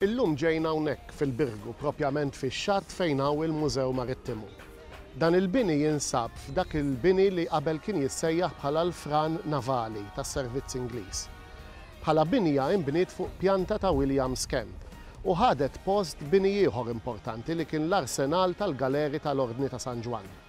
Illum ġejna hawnhekk fil-Birgu, propjament fix-xatt fejn hawn il-Mużew Marittimu. Dan il-bini jinsab f'dak il-bini li qabel kien jissejjaħ bħala l-Fran Navali tas-Servizz Ingliż. Bħala binja inbniet fuq pjanta ta' William's Camp u ħadet post bini ieħor importanti li kien l-arsenal tal-galeri tal-Ordni ta' San Ġwann.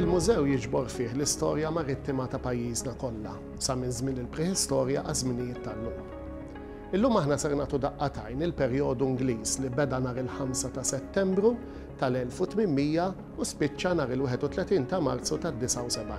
Il-mużew jiġbor fih l-istorja marittima ta' pajjiżna kollha sa minn żmien il-prehistorja għaż-żminijiet tal-lum. Illum aħna ser nagħtu daqqatajn il-perjodu Ingliż li beda nhar il-5 ta' Settembru tal-1800 u spiċċa nhar il-31 ta' Marzu tad-79.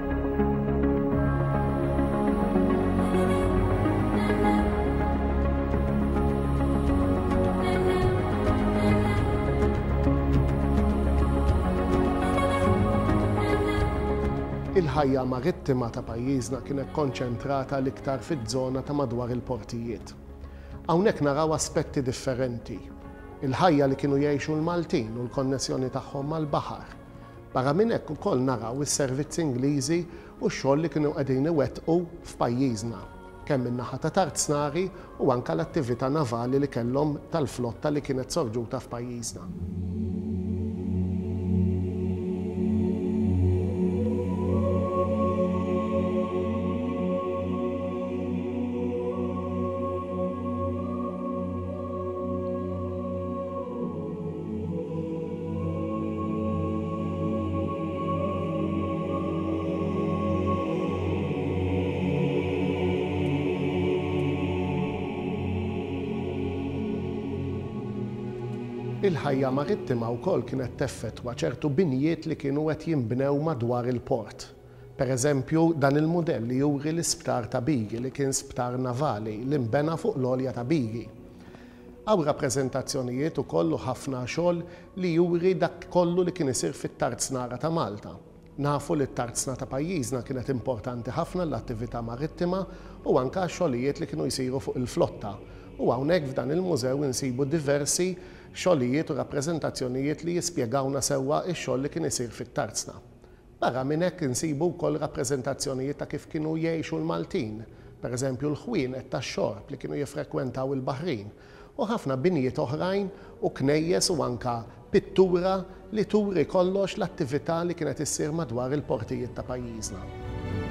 il-ħajja marittima ta' pajjiżna kienet konċentrata l-iktar fiż-żona ta' madwar il-portijiet. Hawnhekk naraw aspetti differenti, il-ħajja li kienu jgħixu l-Maltin u l-konnessjoni tagħhom mal-baħar, Barra minn hekk ukoll naraw is-servizzi Ingliżi u x-xogħol li kienu qegħdin iwettqu f'pajjiżna, kemm min-naħa ta' Tarznari u anke l-attività navali li kellhom tal-flotta li kienet sorġuta f'pajjiżna. Il-ħajja marittima wkoll kienet teffettwa ċertu binjiet li kienu qed jinbnew madwar il-port. Per eżempju, dan il-mudell juri l-isptar ta' Bigi li kien sptar navali li nbena fuq l-għolja ta' Bigi. Hawn rappreżentazzjonijiet ukoll u ħafna xogħol li juri dak kollu li kien isir fit-tarznara ta' Malta. Nafu li t-tarzna ta' pajjiżna kienet importanti ħafna għall-attività marittima u anke għax-xogħlijiet li kienu jsiru fuq il-flotta u hawnhekk f'dan il-mużew insibu diversi xogħlijiet u rappreżentazzjonijiet li jispjegawna sewwa x-xogħol li kien isir fit-tarzna Barra minn hekk insibu wkoll rappreżentazzjonijiet ta' kif kienu jgħixu l-Maltin, per eżempju l-ħwienet tax-xorb li kienu jiffrekwentaw il-baħrin, u ħafna binjiet oħrajn u knejjes u anke pittura li turi kollox l-attività li kienet issir madwar il-portijiet ta' pajjiżna.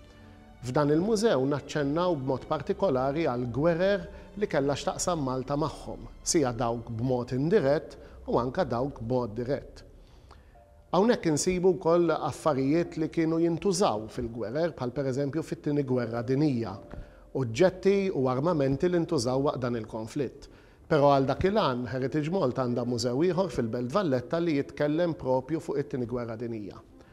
F'dan il-mużew naċċennaw b'mod partikolari għall-gwerer li kellha x'taqsam Malta magħhom, sija dawk b'mod indirett u anke dawk b'mod dirett. Hawnhekk insibu wkoll affarijiet li kienu jintużaw fil-gwerer bħal pereżempju fit-Tieni Gwerra Dinija, oġġetti u armamenti li ntużaw waqt dan il-konflitt. Però għal dak il-għan, Heritage Malta għandha mużew ieħor fil-Belt Valletta li jitkellem propju fuq it-Tieni Gwerra Dinija.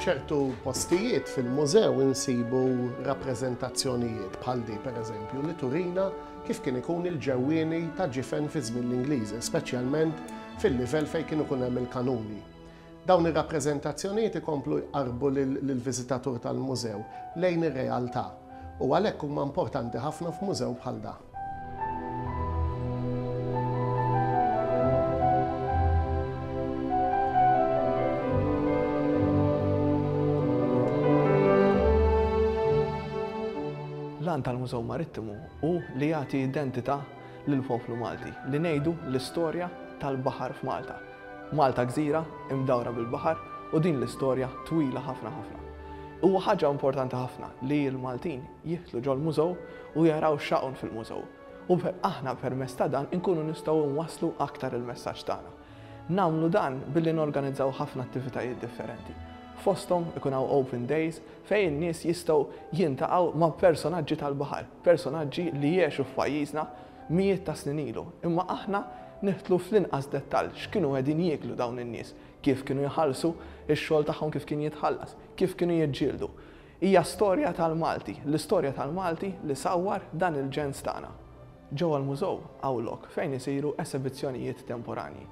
F'ċertu postijiet fil-mużew insibu rappreżentazzjonijiet bħal di pereżempju li turina kif kien ikun il-ġewwieni ta' ġifen fi żmien l-Ingliżi, speċjalment fil-livell fejn kien ikun hemm il-kanuni. Dawn ir-rappreżentazzjonijiet ikomplu jqarrbu lill-viżitatur tal-mużew lejn ir-realtà u għalhekk huma importanti ħafna f'mużew bħal dan. L-għan tal-Mużew Marittimu hu li jagħti identità lill-poplu Malti, li ngħidu l-istorja tal-baħar f'Malta. Malta gżira imdawra bil-baħar u din l-istorja twila ħafna ħafna. Huwa ħaġa importanti ħafna li l-Maltin jidħlu ġol-mużew u jaraw x'hawn fil-mużew u aħna permezz ta' dan inkunu nistgħu nwasslu aktar il-messaġġ tagħna. Nagħmlu dan billi norganizzaw ħafna attivitajiet differenti. Fosthom ikun hawn open days fejn in-nies jistgħu jiltaqgħu ma' personaġġi tal-baħar, personaġġi li jgħexu f'pajjiżna mijiet ta' snin ilu, imma aħna nidħlu fl-inqas dettall x'kienu qegħdin jieklu dawn in-nies, kif kienu jħallsu, ix-xogħol tagħhom kif kien jitħallas, kif kienu jiġġieldu. Hija storja tal-Malti, l-istorja tal-Malti li sawwar dan il-ġens tagħna. Ġewwa l-Mużew hawn lok fejn isiru esebizzjonijiet temporanji.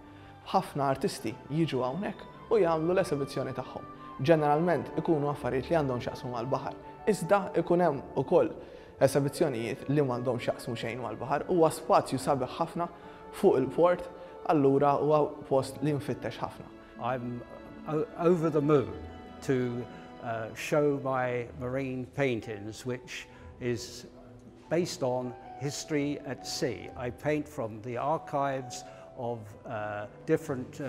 Ħafna artisti jiġu hawnhekk u jagħmlu l-esebizzjoni tagħhom. Ġeneralment ikunu affarijiet li għandhom x'jaqsmu mal-baħar, iżda ikun hemm ukoll Esebizzjonijiet li m'għandhom x'jaqsmu xejn mal-baħar huwa spazju sabiħ ħafna fuq il-port allura huwa post li nfittex ħafna. I'm over the moon to show my marine paintings which is based on history at sea. I paint from the archives of different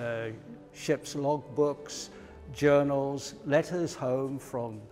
ships log books, journals, letters home from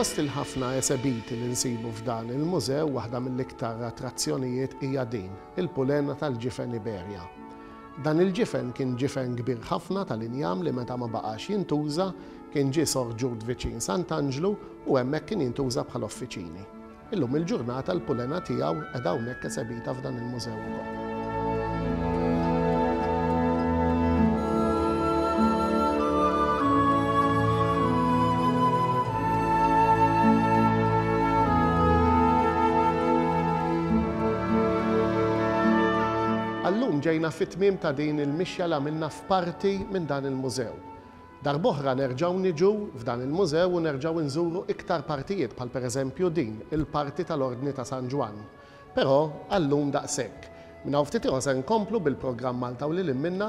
Fost il-ħafna esebiti li nsibu f'dan il-mużew, waħda mill-iktar attrazzjonijiet hija din, il-pulena tal-ġifen Iberja. Dan il-ġifen kien ġifen kbir ħafna tal-injam li meta ma baqax jintuża, kien ġie sorġut viċin Sant'Anġlu u hemmhekk kien jintuża bħala uffiċini. Illum il-ġurnata l-pulena tiegħu qiegħda hawnhekk esebita f'dan il-mużew ukoll. Għal-lum ġejna fit-tmiem ta' din il-mixja li għamilna f'parti minn dan il-mużew. Darb'oħra nerġgħu niġu f'dan il-mużew u nerġgħu inżuru iktar partijiet bħal pereżempju din il-parti tal-Ordni ta' San Ġwann. Però għal-lum daqshekk. Minn hawn ftit ieħor ser nkomplu bil-programm Malta u Lil Hinn Minnha